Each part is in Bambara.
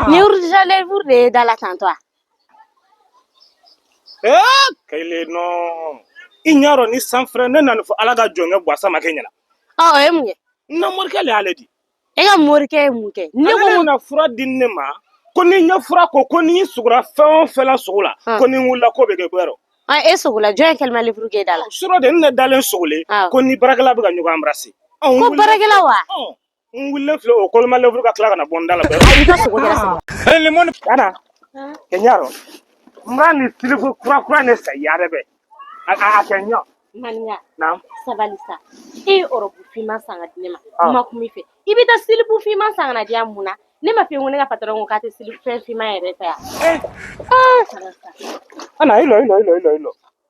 Ni rouge à lèvres de da la tan to. Eh, kɛlɛ nɔ. I ɲa dɔn ni san fɛrɛ ne nana fɔ ala ka jɔnkɛ bɔ a sama kɛ ɲɛna Ɔ o ye mun ye? n na morikɛ le y'ale di E ka morikɛ ye mun kɛ? Ne ale ko de mun na fura di ne ma ko ni n ye fura ko ko ni n sugora fɛn o fɛn la sugo la Hmm. ko ni n wulila ko bɛ kɛ ko yɛrɛ Ɔ e sugola jɔn ye crème à lèvres k'e da la. su rɔ de ne dalen sugolen Ah. ko n ni baarakɛla bɛ ka ɲɔgɔn anbarase Ko baarakɛla wa? N wulilen filɛ o crème à lèvres ka tila ka na bɔ n da la bɛɛ b'a- I ka sugo dɔrɔn sa. Hey, le monde Ana, kɛ ɲɛ dɔn. N bara ni silibu kura kura ne sa yaarɛ bɛ. A a- a kɛ ɲɛ. Maniya, Naamu. sabali sa. E ye ɔrɔbu finman san k'a di ne ma. Ah. N ma kuma i fɛ. I bɛ taa silibu finman san ka n'a di yan mun na? Ne ma f'i ye ko ne ka patɔrɔn ko k'a tɛ silibu finman yɛrɛ fɛ yan. Ee, Ana sa. Ana, i lɔ, i lɔ, i lɔ, i lɔ, i lɔ.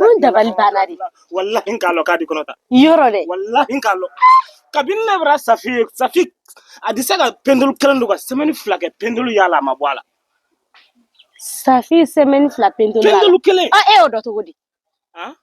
N dabali banna de walahi nkalon ka di kɔnɔ ta yɔrɔ dɛ walahi nkalon kabini ne bara safi ye safi a di se ka pendelu kelen don ka sɛmɛni fila kɛ pendelu y'a la a ma bɔ a la safi sɛmɛni fila pendelu y'a la pendelu kelen e y'o dɔn cogo di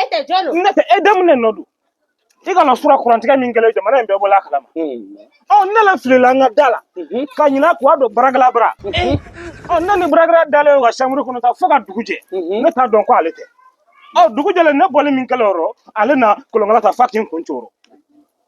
e tɛ jɔn don ne tɛ e denw ne nɔ don i kana su ra kurantigɛ min kɛlen jamana in bɛɛ bɔla a kalama ɔ ne le filila n ka da la ka ɲina ka wa don baarakɛla bara ɔ ne ni baarakɛla dalen o ka chambre kɔnɔ ta fo ka dugu jɛ ne t'a dɔn ko ale tɛ ɔ dugu jɛlen ne bɔli min kɛlen o rɔ ale na kolonkala ta faki n kuncɛ rɔ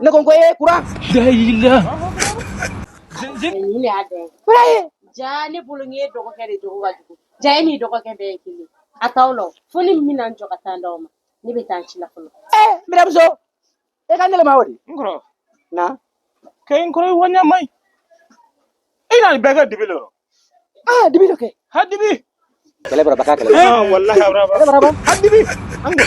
ne ko n ko ee kuran Dayila. Nin de y'a bɛɛ ye. Kuran ye. Jaa ne bolo k'e dɔgɔkɛ de jogo ka jugu. Jaa e n'i dɔgɔkɛ bɛɛ ye kelen. A t'aw la o. Fo ni min na n jɔ ka taa n d'aw ma. Ne bɛ taa n ci la fɔlɔ. ee biranmuso e ka nɛlɛma o de N kɔrɔ. na Kɛ n kɔrɔ ye wanya man ɲi. E na nin bɛɛ kɛ dibi la o. ah dibi dɔ kɛ Ha dibi. kɛlɛ bara ban k'a kɛlɛ Ah walahi a bara ban. kɛlɛ bara ban Ha dibi. An kɛ.